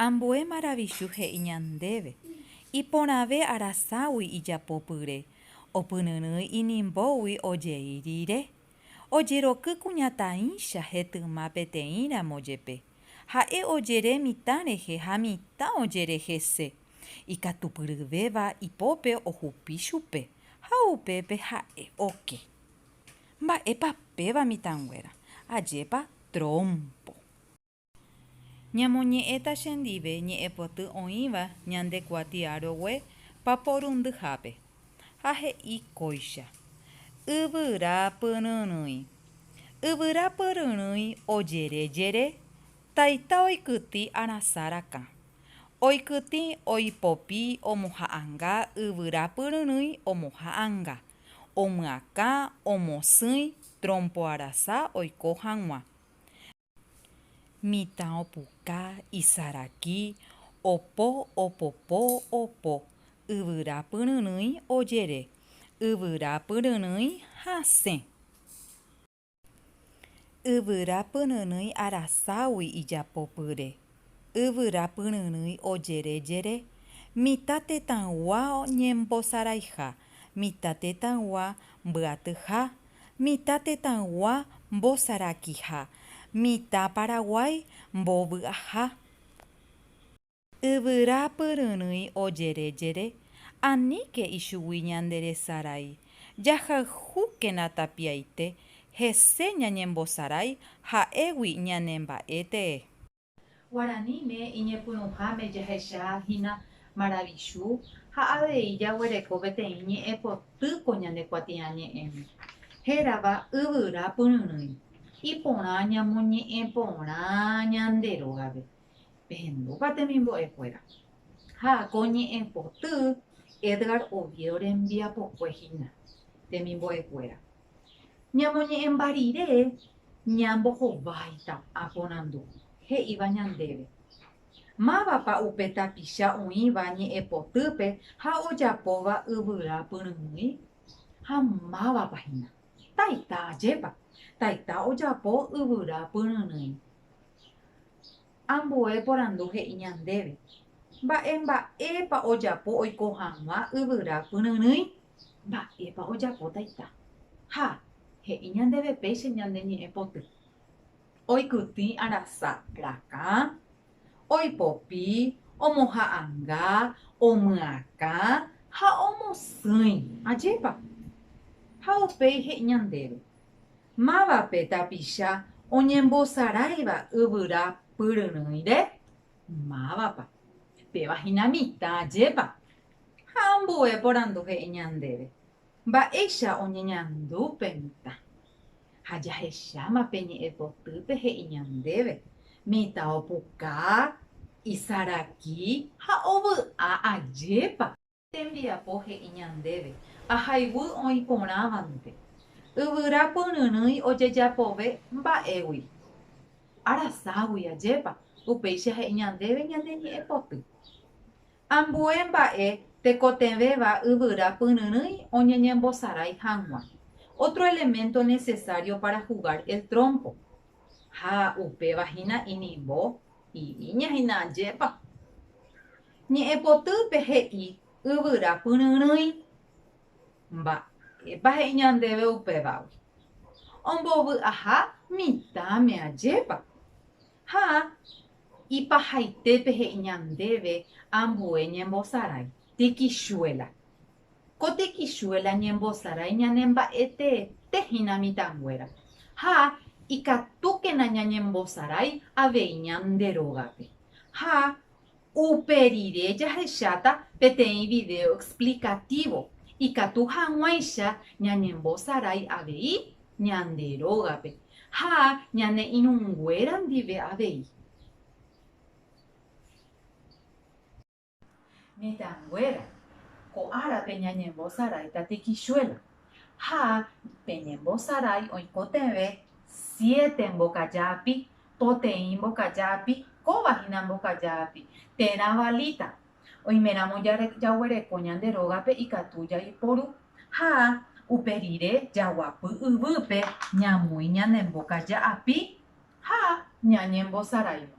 Ambue maravichu he'i ñandéve, iporãve araságui ijapopyre, opyryrỹi inimbógui ojei rire. Ojeroky kuñataĩcha hetyma peteĩramo jepe, ha'e ojere mitã rehe ha mitã ojere hese, ikatupyryvéva ipópe ohupi chupe ha upépe ha'e oke. Mba'épa péva mitãnguéra, ajépa trompo. Ñamoñe'ẽta chendive ñe'ẽpoty oĩva ñande kuatia rogue paporundyhápe. Ha he'i kóicha, Yvyra pyryrỹi. Yvyra pyryrỹi ojere jere, taita oikytĩ arasã rakã. Oikytĩ oipopi omoha'anga yvyra pyryrỹi omoha'anga, omyakã omosỹi trompo arasa oiko hag̃ua. Mitã opuka, isaraki, opo, opopo, opo. Yvyra pyryrỹi, ojere. Yvyra pyryrỹi, hasẽ. Yvyra pyryrỹi araságui ijapopyre. Yvyra pyryrỹi ojere jere. Mitã tetãygua ñembosaraiha. Mitã tetãygua mbyatyha. Mitã tetãygua mbosarakiha. Mitã Paraguái mbovy'aha. Yvyra pyryrỹi ojere jere. Aníke ichugui ñande resarai. Jahayhúkena tapiaite. Hese ñañembosarái ha'égui ñane mba'e tee. Guaraníme iñepyrũháme jahecha hína maravichu ha avei jaguereko peteĩ ñe'ẽ potýko ñane kuatiañe'ẽme, hérava Yvyra pyryrỹi, iporã ñamoñe'ẽ porã ñande rógape. Pehendúpa temimbo'e kuéra. Ha ko ñe'ẽ poty Edgar Oviedo rembiapokue hína, temimbo'e kuéra. Ñamoñe'ẽmba rire ñambohováita aporandu, he'íva ñandéve, Mávapa upe tapicha oĩva ñe'ẽpotýpe ha ojapóva yvyra pyrymýi? Ha mávapa hína? Taita, ajépa, Taita ojapo yvyra pyryrỹi. Ambue porandu he'i ñandéve, Mba'e mba'épa ojapo oiko hag̃ua yvyra pyryrỹi? Mba'épa ojapo taita? Ha, he'i ñandéve péicha ñande ñe'ẽ poty. Oikytĩ arasa rakã, oipopi, omoha'anga, omyakã ha omosỹi. Ajépa? Ha upéi he'i ñandéve, Mávape tapicha oñembosaráiva yvyra pyryrỹire? Mávapa? Péva hína mitã, ajépa? Ha ambue porandu he'i ñandéve, Mba'éicha oñeñandu pe mitã? Ha jahecháma pe ñe'ẽ potýpe he'i ñandéve, Mitã opuka, isaraki ha ovy'a ajépa. Tembiapo he'i ñandéve, Ahayhu oĩ porãvante, yvyra pyryrỹi ojejapove mba'égui, araságui ajépa. Upéicha he'i ñandéve ñane ñe'ẽ poty. Ambue mba'e tekotevẽva yvyra pyryrỹi oñeñembosarái hag̃ua, otro elemento necesario para jugar el trompo. Ha upéva hína inimbo. Iríña hína ajépa. Ñe'ẽpotýpe he'i yvyra pyryrỹi. Mba'épa he'i ñandéve upévagui? Ombovy aha mitãme ajépa. Ha ipahaitépe he'i ñandéve ambue ñembosarái, tikichuela. Ko tikichuela ñembosarái ñane mba'eteete hína mitãnguéra. Ha ikatúkena ñañembosarái avei ñande rógape. Ha Upe rire jahecháta peteĩ vidéo explicatívo ikatu hag̃uáicha ñañembosarái avei ñande rógape ha ñane irũnguéra ndive avei. Mitãnguéra, ko árape ñañembosarái tatekichuela, ha peñembosarái oikotevẽ siete mbokaja api Poteĩ mbokaja api, kóva hína mbokaja api, térã valíta. Oiméramo jaguereko ñande rógape ikatu jaiporu. Ha upe rire jaguapy yvýpe ñamui ñane mbokaja api ha ñañembosaraivo.